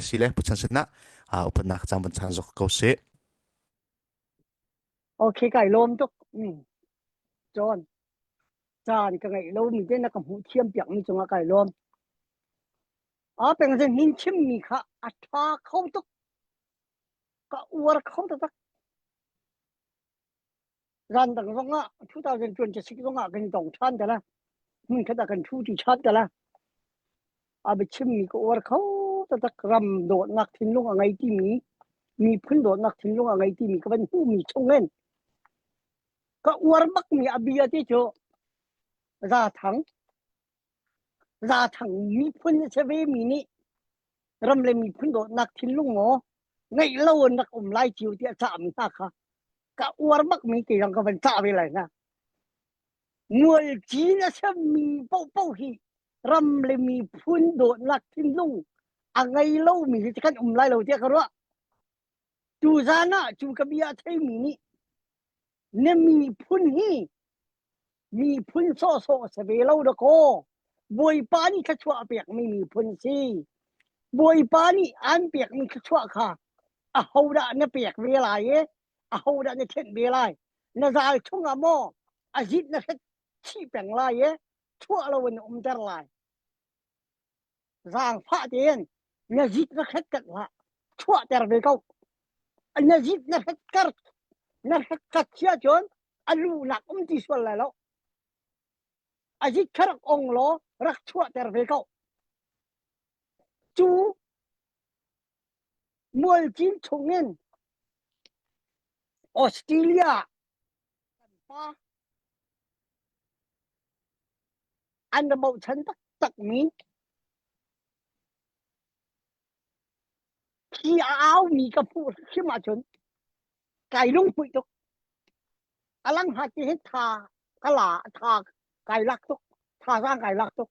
sile puchan sinah upatnak cang van chan zok ko si. Okay, kai lom tuk. John, caan ka ngai lo mi te na ka hmu thiam piak mi chunga kai lom. A peng zin hin chim mi kha a tha kho tuk. Ka uar kho ta tak. ran dang zong ah 2026 zong ah kan dong than tala hmun khat ah kan thu ti than tala a biachim mi ko war kho tatak ram dot ngak thinlung a ngai ti mi mi phun dot ngak thinlung a ngai ti mi ka ban hu mi chongen ka uar mak mi abia ti chu za thang Rathang miphun a si ve mi nih ram le miphun dawtnak thinlung maw ngeih lo in rak um lai cio tiah cahmi hna kha ka uar bak mi te zong ka van cah ve lai hna. Mual cin a semmi paohpaoh hi ram le miphun dawtnak thinlung a ngei lo mi hi kan um lai lo tiah ka ruah. Cu zan ah cu ka bia a theimi nih na miphun hi miphun sawhsawh a si ve lo dakaw. Bawipa nih thluachuah a pekmi miphun si. Bawipa nih an pekmi thluachuah kha ahodah na pek ve lai e? Ahodah na thenh ve lai? Na zal chungah maw a zit na hret chih peng lai e? Chuah loin na umter lai. Zaangfah tein na zit na hretkar hlah chuahter ve ko. Na zit na hretkar na hretkar chia cun a lu lak um ti sual lai lo. A zit kha rak ong law rak chuahter ve ko. Cu Mualcin chungin Australia kan pa an ra bochan taktakmi hi a aumi ka fuh hrim ahcun kai lunghuih tuk. A langha ti hi tha ka la, tha kai lak tuk. Tha sang kai lak tuk.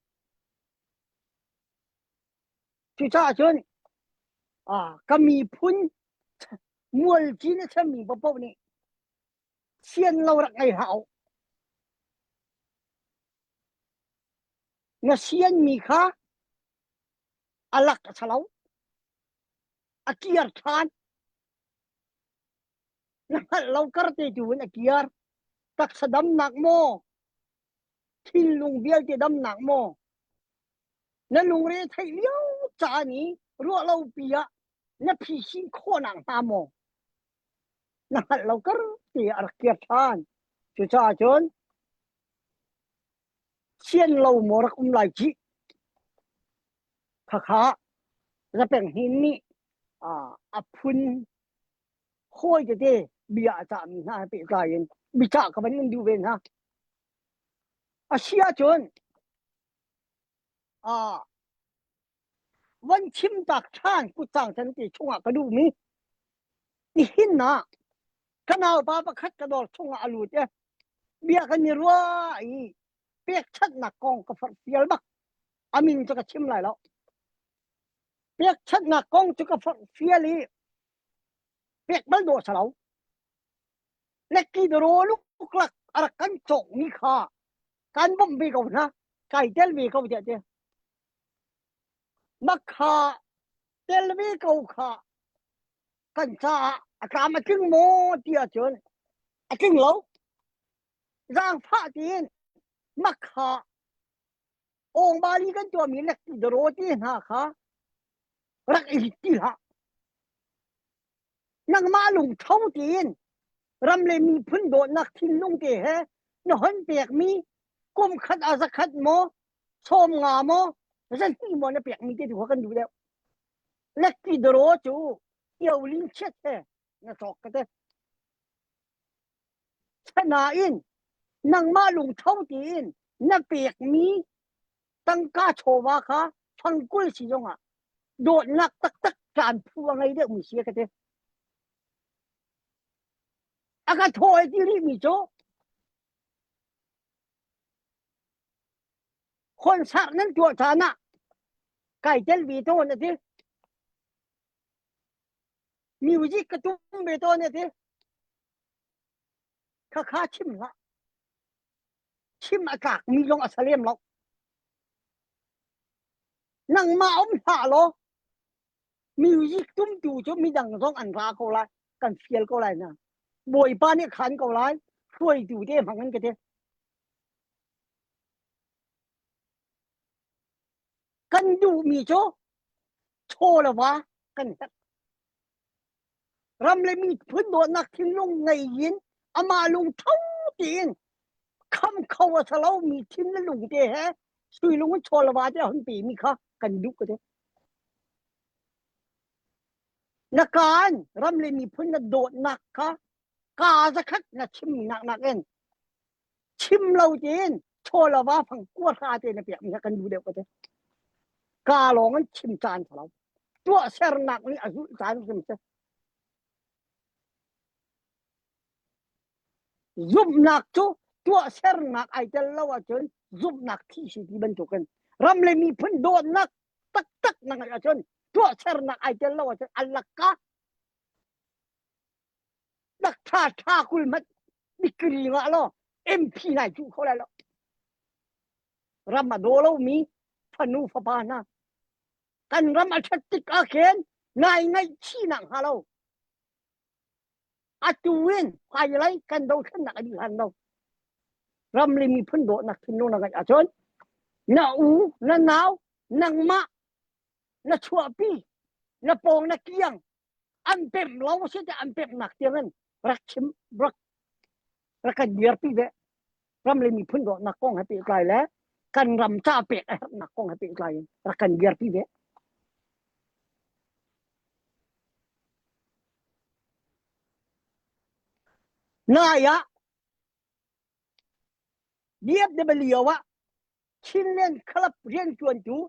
Cucaah cun ka miphun mual cin a chemmi paoh nih sian lo rak ngei hlah na sianmi kha a lak a lo a kiar ṭhan na hngalh lo kar te tu in a kiar taksa damnak maw Thinlung vialte damnak maw na lungre theih lio caan i ruah lopi ah na phisin khawhnak hnga maw na hngalh lo kar ti a rak kir ṭhan cucaah cun sian lo maw rak um lai cih khakha zapeng hin nih a phun hawi tete bia a cahmi hna he pehtlai in bicah ka van in duh ve hna a si ahcun a van chim tak ṭhan kutsang chan te chungah ka duhmi nihin na kanal pa pakhat ka dor chungah a lut e bia kan i rua i pek ṭhatnak kong ka far fial bak amin cu ka chim lai lo pek ṭhatnak kong cu ka far fial i pek bal do sa lo lekki dero luklak arak kan cawk ni kha kan bom ve ko na kai tel ve ko te te makha tel ve ko kha kan cha akam atling mo tia chun atling lo zang fa tin makha ongmali kan tuami nak daro ti hna kha rak i ti hlah nangmah lung tho tiin ram le miphun dawtnak thinlung te he na hon pekmi kum khat a zakhat maw som nga maw zan ti mo na pek mi te tu kan du deu lekti daro chu io ling chiat he na chok ka te Asinain nangmah lungtho tiin na pekmi tangka chawva kha fangkul si zongah dawtnak taktak kaan phu a ngei deuhmi si a ka ti. A ka thawi ti rihmi cu concert nan tuah caan ah kai tel ve tawn a ti. Music ka tum ve tawn e ti. Kha kha chim hlah. Chim a tlak mi lung a sa lem lo. Nangmah om hlah law. Music tum tu cu midang zong an ra ko lai. Kan fiel ko lai na. Bawipa nih khan ko lai. Hruai tu te hmang an ka te. kan duhmi cu chawlava kan tak ram le miphun dawtnak thinlung ngei in amah lungtho tiin kham kho a sa lomi thin le lung te he suilung in chawlava te hun pe mi kha kan duh ko te na kan ram le miphun na dawtnak kha ka zakhat na chim nak nak in chim lo tein chawlava fang kua hla tein a pekmi kan nu deuh ka te ka lawng an chim caan ka lo tuah sernak nih a zulh caan sim se zumhnak cu tuah sernak ai tel lo ahcun zumhnak thi si ti bantukin ram le miphun dawtnak taktak na ngeih ahcun tuah sernak ai tel lo ahcun allaka Dakṭha ṭha kul hmanh dikri ngah law MP nai cuh kho lai lo. Ram a daw lomi fanu fapa hna. Kan ram a ṭhat tik ah khin nai ngaihchihnak hnga lo. Atu in hmailei kan dothlennak a dih hlan lo. Ramli miphun dawtnak thinlung na ngaih ahcun na u, na nau, nangmah, na chuahpi, na pawng na kiang an pem lo si te an pem nak tiang in rak chim rak rak kan biar pi ve ram le miphun do nak kong ha pe kai le kan ram cha pe a herh nak kong ha pe kai in rak kan biar pi ve na ya DFW wa Chinland Club rian tuan tu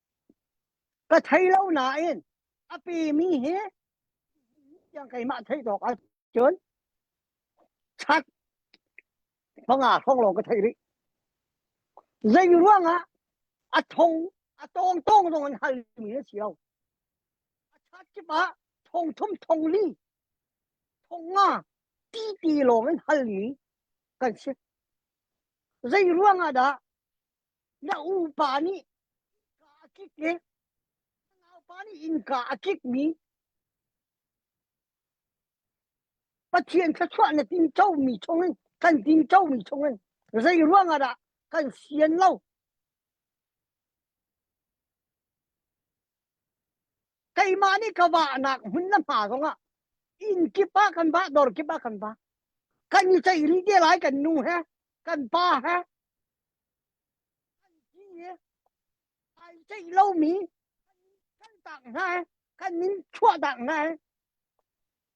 Ka thei lo nain a pimi hi tiang keimah theih tawk ah cun chat manga hrawng lawng ka thei rih. Zei ruang ah a thong a tawng tawng zong in hal mi a si lo. A chat kip ah thong thum thong li thong nga ti ti lawng in hal mi kan si. Zei ruang ah dah na upa nih ka a kik e na naupa nih innka a kik mi Pathian thluachuah na tingco mi chungin kan tingco mi chungin zei ruangah dah kan sian lo keimah nih ka wahnak hmun na hma zongah inn kip ah kan ba dor kip ah kan ba kan i ceih rih te lai kan nu he kan pa he Kan ti ai ceih lomi kan in kaltak hna i kan in chuahtak hna i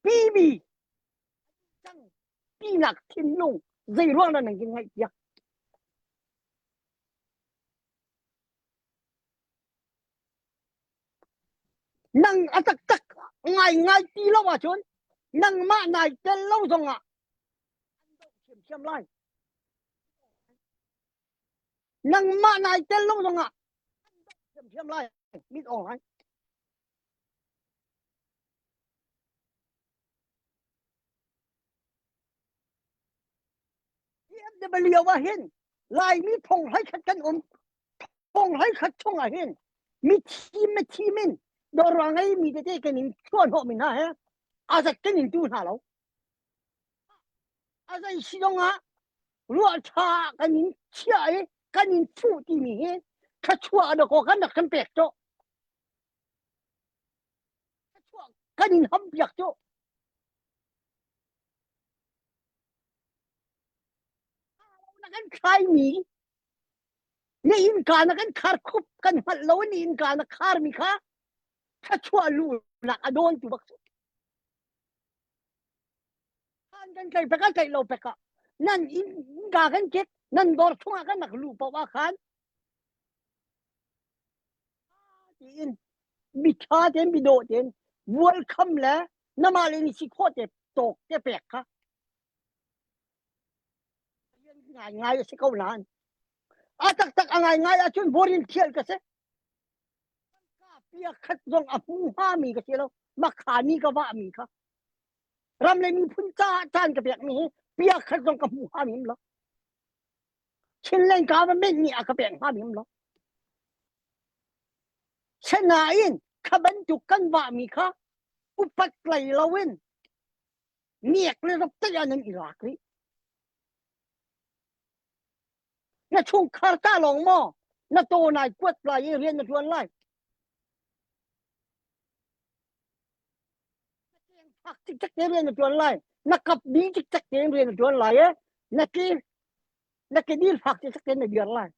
pimi cang pinak thinlung zeiruang dah nan kin ngaihpiak? Nang a taktak ngai ngai ti lo ahcun nangmah nai tel lo zongah Nangmah nai tel lung zongah an doh ṭhiamṭhiam lai. Mit ong lai. EFW ahin Laimi phonghai khat kan um. Phonghai khat chung ahin mi thim me thim in dorang ai mi tete kan in chuan ho min ha he azat kan in tu hna lo. A zei si zong ah ruah ṭha ah kan in chiah i kan in thuh timi hi thluachuah na kaw kan rak kan pek cu. Thluachuah kan in ham piak cu. Na kan thlaimi na innka na kan khar khup kan hngalh lo ni innka na khar mi kha thluachuah lu nak a dawl tu bak cu. an kan tlaih pek a tlaih lo pek ah nan in ga kan ket nan dor chung ah kan rak lu pau ah khan tiin mi tha ten mi do ten bual kham le nama le ni si kho te tok te pek kha ngai ngai a si ko nan a tak tak a ngai ngai a cun borin thial ka se piakhat zong a hmu hngami ka si lo makhani ka vahmi kha ram le miphun caah caan ka pekmi hi piakhat zong ka hmu hngami him lo Chinland government nih a ka pek hngami him lo sanain kha bantuk kan vahmi kha upat lai lo in miak le rak tai anan iraq rih Na chungkhar tah lawng maw na taw nai kuat lai i rian na ṭuan lai? Na keng phak cikcek te rian na ṭuan lai. Na kap ding cikcek te rian na ṭuan lai e. Na ke na ke dil phak cikcek te na biar lai.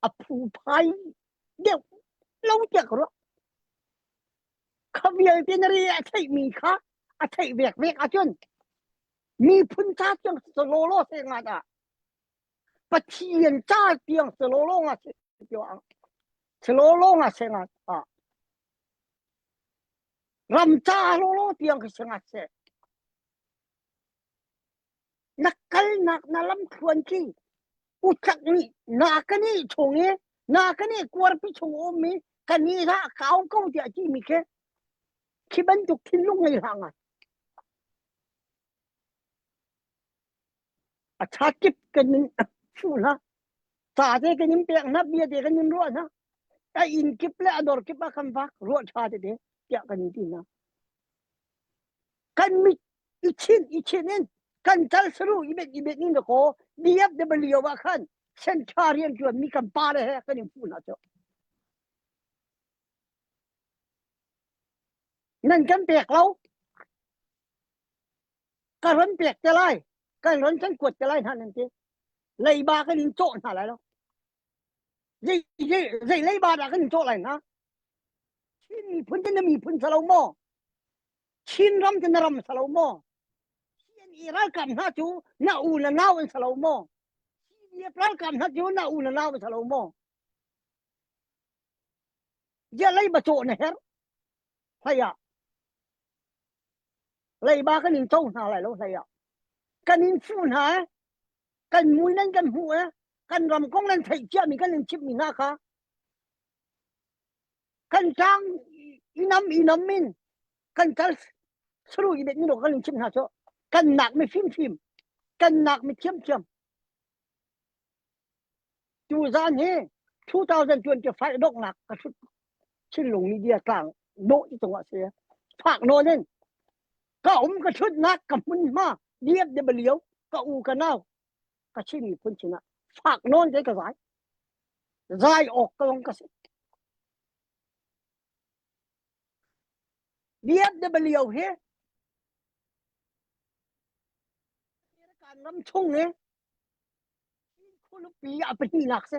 A phu phai deuh lo tiak ro. Kha vialte na ri a theih mi kha a theih vek vek a cun. Miphun ca tiang si lawlaw se nga dah Pathian ca tiang si lawlaw nga se tio ang si lawlaw nga se nga ta ram ca lawlaw tiang khi se nga se na kal nak na lam thluan ki uchak ni na ka ni chung i na ka ni kuar pi chung om mi ka ni ra kaung ko tia chi mi ke khi bantuk thin lung ngei hanga A ṭha kip kan in fuh hna. Sa te kan in pek hna, bia te kan in ruah hna. A inn kip le a dor kip a kan vak, ruah ṭha tete, tiah kan in ti hna. Kan mit i chin i chin in kan tal saru i bet i bet in le ko BFW ah khan sentra rian ṭuan mi kan pa le he kan in fuh hna cu. nan kan pek lo ka ron pek te lai kan ron kan kuat te lai hna nan ti leiba kan in cawh hna lai lo zei zei zei leiba dah kan in cawh lai hna Chin miphun te na miphun sa lo maw Chin ram te na ram sa lo maw CNE ralkap hna cu na u na nau an sa lo maw CDF ralkap hna cu na u na nau an sa lo maw Bia leiba caw na herh. Hlaiah leiba kan in to hna lai lo hlaiah. Kan in fuh hna eh. Kan mui nan kan hmu eh. Kan ram kong nan theih ciami kan in chip mi hna kha. Kan tang inam inam min kan kal suru i bet ni lo kan in chip hna cho. Kan nak mi fim fim. Kan nak mi thiam thiam. Cu zan hi 2025 donghnak ka hrut Chinlung Media tlang dawh i cung ah si. Fak nawn in ka um ka hrut nak ka hmun hma diat de baliau ka u ka nau ka chin mi phun chin ah fak nawn te ka zai zai ok ka long ka si diat de baliau hi kan ram chung ni Khualupi ah pahnihnak si.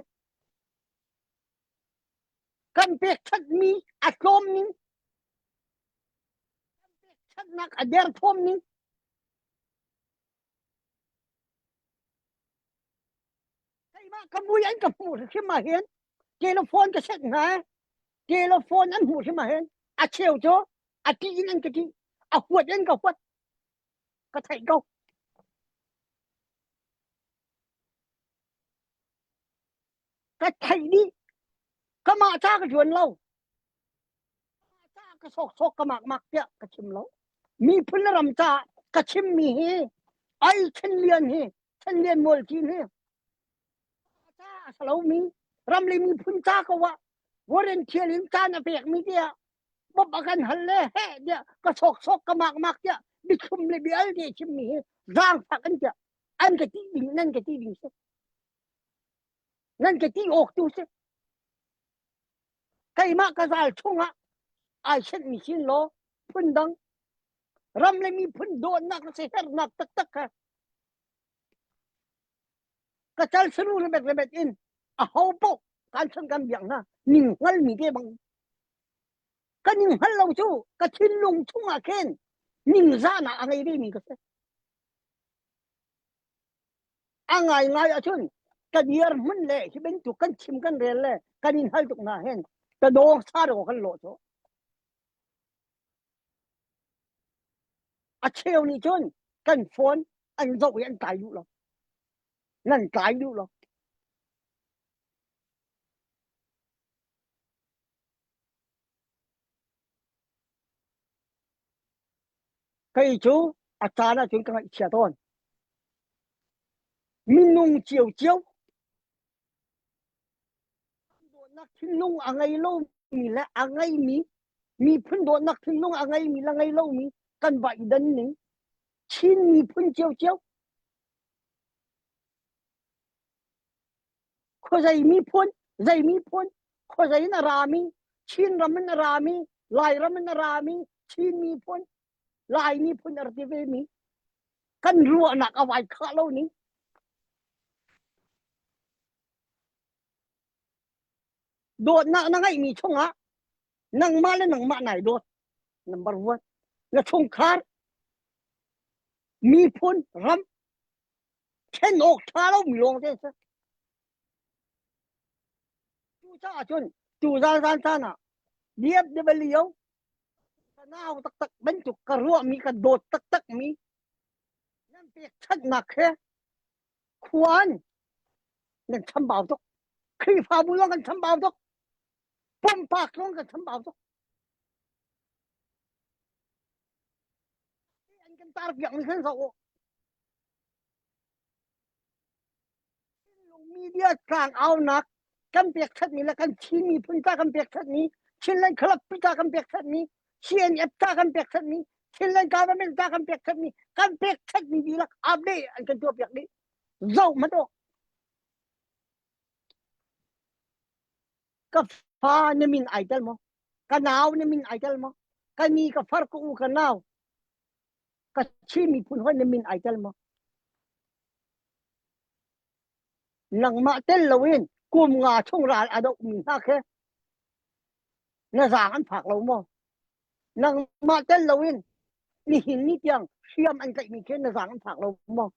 Kan pekṭhatmi a tlawm ning, kan pekṭhatnak a derthawm ning, keimah ka mui an ka hmuh hrim ahhin telephone ka set hnga. Telephone an hmuh hrim ahhin a cheu cu a ṭih in an ka ṭih, a huat in ka huat. Ka theih ko. Ka theih dih. Kamah ca ka juan lo. Ca ka sawksawk ka makmak tiah ka chim lo. Miphun le ram caah ka chimmi hi ai Chen Lian hi Chen Lian Mualcin hi a lomi ramli miphun ca ko ah volunteer in caan a pek mi tiah bop a kan hal le he tiah ka sok sok ka mak mak tiah bichum le bial te chim mi hi zaang fak an tiah an ka ti ding nan ka ti ding si nan ka ti ok tu si keimah ka zal chungah ai set mi sin lo phun dang ram le mi phun donak si hernak tak tak ka ka cal suru remet remet in a ho poh kan san kan biak hna ning hal mi te bang ka ning hal lo chu ka thin lung chung ah khen ning za na a ngei ve mi ka se a ngai ngai a chun ka diar mun le hi ben tu kan chim kan rel le kan in hal tuk na hen ta do sa ro kan lo cho A cheu nih cun kan phone an zoh i an tlai duh lo. Nan tlai duh lo. Kei cu a caan ah cun ka ngaih chia tawn. Minung cio cio Dawtnak thinlung a ngei lomi le a ngeimi miphun dawtnak thinlung a ngeimi le ngei lomi kan va i dan ning Chin miphun ciocio khuazei miphun zei miphun khuazei in a rami Chin ram in a rami Lairam in a rami Chin miphun Lai miphun a ra ti vemi kan ruahnak a vai khah lo ni dawtnak na ngeih mi chungah nangmah le nangmah nai dawt number one na chungkhar miphun ram chen awk tha lo mi lawng te Cucaah cun cu zalzal caan ah DFW sanau taktak bantuk ka ruahmi ka dawt taktakmi nan pekchanhnak he khuan nan chambau tuk Khrihfabu zong kan chambau tuk pumpak zong kan chambau tuk an kan tar piak mi kan zoh u media tlangaunak kan pek ṭhatmi le kan Chin miphun ta kan pek ṭhatmi Chinland Club ta kan pek ṭhatmi CNF ta kan pek ṭhatmi Chinland Government ta kan pek ṭhatmi kan pek ṭhatmi dihlak update an kan tuah piak dih zoh hmanh u ka fa na min ai tel maw ka nau na min ai tel maw ka ni ka far ka u ka nau ka Chin miphun hawi na min ai tel maw? Nangmah tel loin kum nga chung ral a dohmi hna khe na zaang an phak lo maw? Nangmah tel loin nihin ni tiang hriam an tlaihmi khe na zaang an phak lo maw?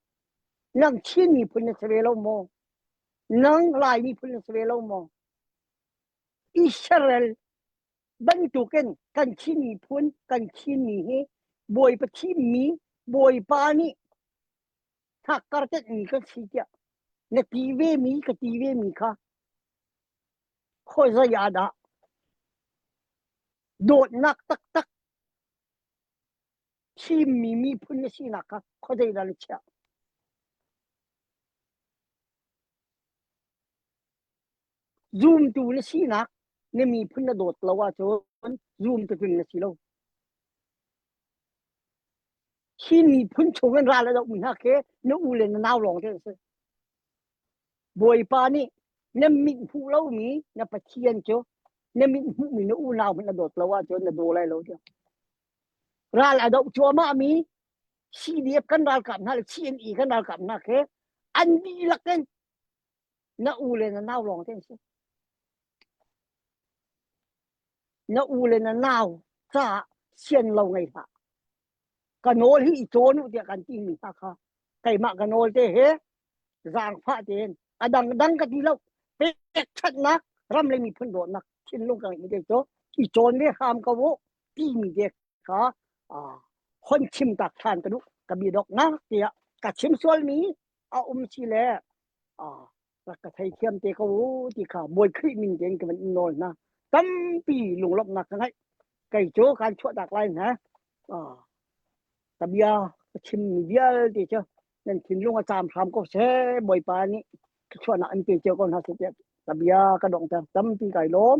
Nang Chin miphun na si ve lo maw? Nang Lai miphun na si ve lo maw? Israel bantukin kan khin miphun kan khin mi hi bawipa thim mi bawipa nih thakkar tet mi ka si tiah na ti ve mi ka ti ve mi kha khawzai adah dawtnak taktak thim mi miphun na sinak kha khawzai da na chiah Zumtu na sinak na miphun na dawt lo ahcun zumtu tling na si lo. Hi miphun chungin ral a dohmi hna khi na u le na nau lawng cu a si. Bawipa nih na mit hmuh lomi na Pathian cu na mit hmuhmi na unau hmanh na dawt lo ahcun na daw lai lo tiang. Ral a doh cuahmahmi CDF kan ralkap hna le CNE kan ralkap hna khi an dihlak in Na u le na nau lawng te an si. Na u le na nau caah sian lo ngei hlah. Ka nawl hi i cawn u tiah kan ti mi hna kha keimah ka nawl te he zang fa ten a dang dang ka ti lo pek ṭhatnak ram le miphun dawtnak thinlung ka ngeih te cu i cawn me hram ka wo ti mi te kha hon chim tak ṭhan ka du ka bi dok na tiah ka chim sual mi a um si le rak ka thei thiam te ko ti kha mui khrih min ten ka van nawl na tampi lunglok nak ka ngai kai cho kan chuah dak lai na ta bia chim mi vial te cho nan thin lung a cham hram ko se boi pa ni ka chuah na an pe che ko na se ta bia ka dong ta tampi kai lom